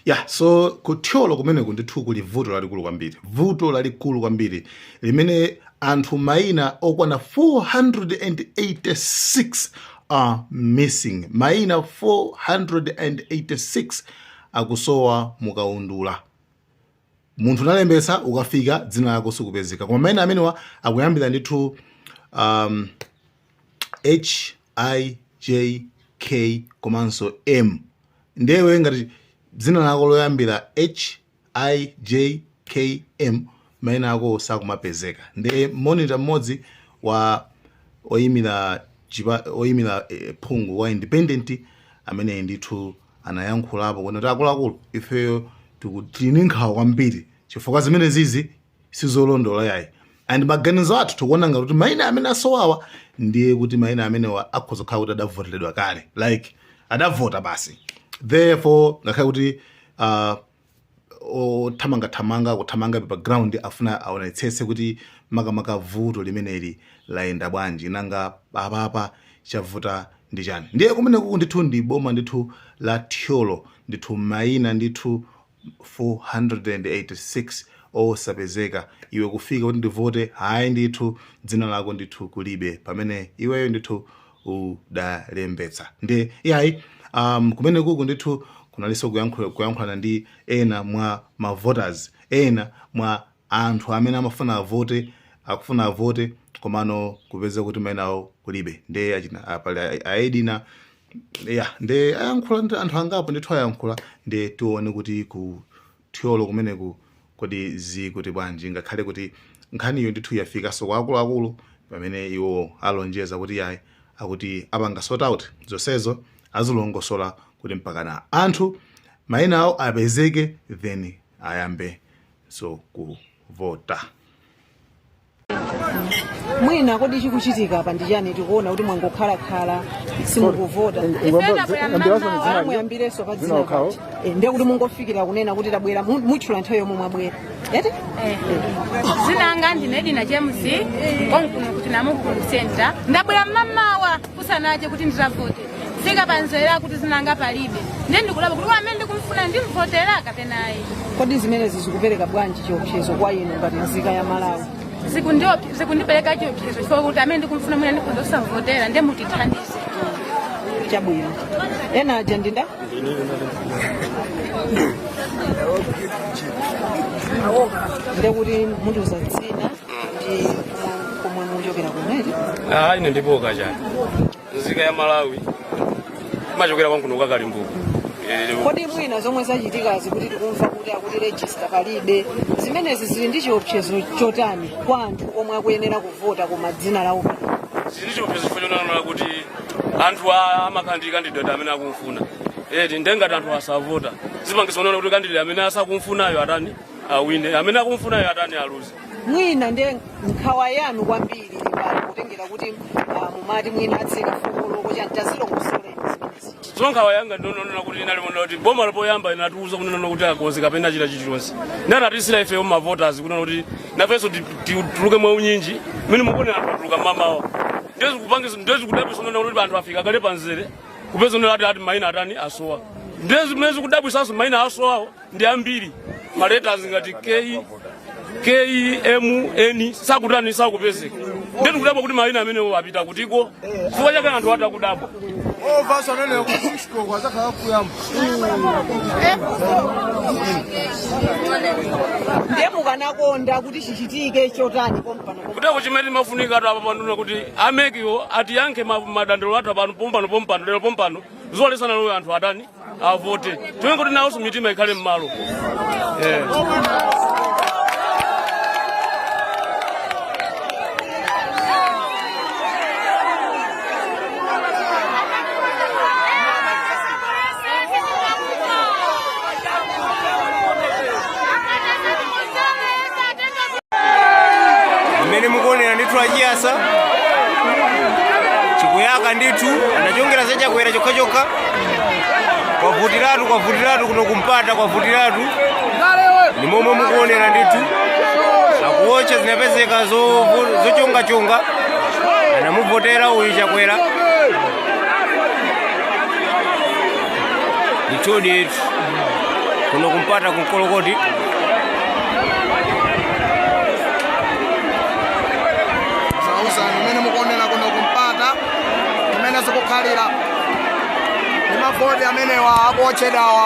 ya yeah, so ku Thyolo kumeneku ndithu kuli vuto lalikulu kwambiri vuto lalikulu kwambiri limene anthu maina okwana 486 are missing maina 486 akusowa mukaundula munthu unalembetsa ukafika dzina lako sikupezeka koma maina amenewa akuyambira ndithu um, h i j k komanso m nde iwe ngati dzina lako loyambira h i j k m maina ako sakumapezeka nde monitor mmodzi wa oyimira chipa- oyimira eh, phungu wa independent amene ndithu anayankhulapo kuti akuluakulu ifeyo tiku- tili ndi nkhawa kwambiri chifukwa zimene zizi sizolondola yayi and maganizo athu tikuona ngati kuti maina amene asowawa ndiye kuti maina amenewa akhoza kukhala kuti adavoteredwa kale like adavota basi therefore ngakhale kuti uh, othamangathamanga akuthamangabe pa ground akufuna aonetsetse kuti makamaka vuto limeneli layenda bwanji nanga apapa chavuta ndi chani ndiye kumeneku ndithu ndi boma ndithu la Thyolo ndithu maina ndithu 486 osapezeka iwe kufika kuti ndivote hayi ndithu dzina lako ndithu kulibe pamene iweyo ndithu udalembetsa nde iyayi um, kumene kuku ndithu kunalinso kuyankhulana ndi ena mwa mavoters ena mwa anthu amene amafuna avote akufuna avote komano kupeza kuti mainawo kulibe nde achina apali a Edina ya nde ayankhula ndi anthu angapo ndithu ayankhula nde tione kuti ku Thyolo kumeneku kodi zikuti bwanji ngakhale kuti nkhaniyo ndithu yafikanso kwa akuluakulu pamene iwo alonjeza kuti yayi akuti apanga sort out zonsezo azilongosola kuti mpakana anthu maina awo apezeke then ayambenso kuvota. mwina kodi chikuchitika apa ndi chani tikuona kuti mwangokhalakhala simukuvota Ah, muyambirenso pa dzina eti Eh, ndiye kuti mungofikira kunena kuti tabwera mu- mutchula nthawi yomwe mwabwera eti dzina langa ndine Edina James konkuno kuti Namukulu center ndabwera mmamawa kusanacha kuti ndizavote fika pa mzere akuti dzina langa palibe ndiye ndikudabwa kuti amene ndikumfuna ndimvotera kapena ayi kodi zimenezi zikupereka bwanji chiopsezo kwa inu ngati nzika ya Malawi Zikundiop- zikundipereka chiopsezo chifukwa kuti amene ndikumfuna mwina ndikhoza kusamvotera ndiye mutithandize chabwino ena aja ndinda ndekuti mundiuza dzina ndi komwe muchokera kumene Ah, ine ndipoka chani nzika ya malawi imachokera ku nkhuno kwa kalimbuka kodi mwina zomwe zachitikazi kuti tikumva kuti akuti rejista palibe zimenezi zili ndi chiopsezo chotani kwa anthu omwe akuyenera kuvota koma dzina lawo zili ndi chiopsezo chifukwa choonaona kuti anthu a- amakhala ndi kandidati amene akumfuna eti nde ngati anthu asavota zipangitsa kuonaona kuti kandidati amene asakumfunayo atani awine amene akumufunayo atani aluze mwina ndiye nkhawa yanu kwambiri pali kutengera kuti ah, mumati mwina atseka siks koloko chani tazilongosoleni zimenezi nkhawa yanga ndi kunena kuti inali yonena kuti boma la poyamba inatiuza kunena kuti akonze kapena chita chilichonse nde anatiuza ifeyo mavoters kunena kuti nafenso ti- ti- tuluke mwa unyinji mene mukuonera anthu atuluka mmamawa nde zikudabwitsa kunena kuti anthu afika kale pamzere kupeza kunena ati ati maina atani asowa nde zimene zikudabwitsanso maina asowawo ndi ambiri maletas ngati k kmn sakutani sakupezeka nde tikudabwa kuti maina amenewo apita kutiko chifukwa chake anthu tikudabwa ndiye mukanakonda kuti chichitike chotani pompano kudabwa chimene chimafunika anthu apa akufuna kuti a mekiwo atiyankhe ma- madandaulo athu apano pompano pompano lero pompano zoti tsiku lalero anthu atani avote ndiye kuti nawonso mitima ikhale m'malo yeah. mmene mukuonera ndithu achiyasa chikuyaka ndithu anachongera za chakwera chokhachokha kwavutiratu kwavutiratu kuno ku mpata kwavutiratu ndi momwe mukuonera ndithu akuwotcha zinapezeka zovu- zochongachonga anamuvotera uyu chakwera ndithudi kuno ku mpata ku nkolokoti zaoneni mmene mukuonera kuno ku mpata mmene zikukhalira ndi mavoti amenewa akuotchedwawa